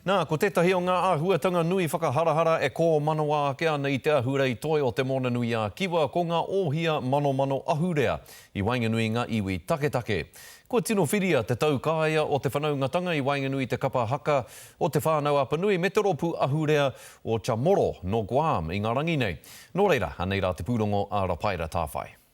Nā, ko tētahi o ngā āhuatanga nui whakaharahara e kōmanawa ake ana i te ahurei toi o Te Moana-nui-a-Kiwa ko ngā ohia manomano ahurea i waenganui i ngā iwi taketake. Kua tino whiria te taukaea o te whanaungatanga i waenganui i te kapa haka o Te Whānau-a-Panui me te rōpū ahurea o Chamorro nō Guam i ngā rangi nei. Nō reira, anei rā te pūrongo a Rapaira Tāwhai.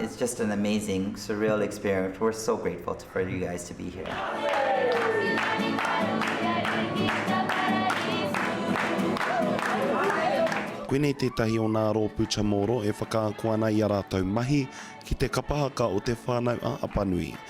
It's just an amazing, surreal experience, we're so grateful for you guys to be here. Koinei tētahi o nā rōpū Chamorro e whakaako ana i a rātou mahi ki te kapahaka o te whānau a Apanui.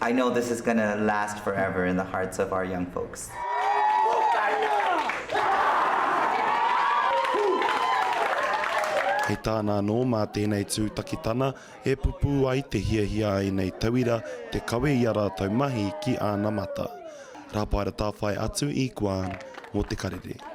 I know this is gonna last forever in the hearts of our young folks. Hei tāna anō mā tēnei tūtakitana e pupū ai te hiahia a ēnei tauira te kawe i a rātou mahi ki āna mata. Rāpaera Tāwhai atu i Guan mō te karere.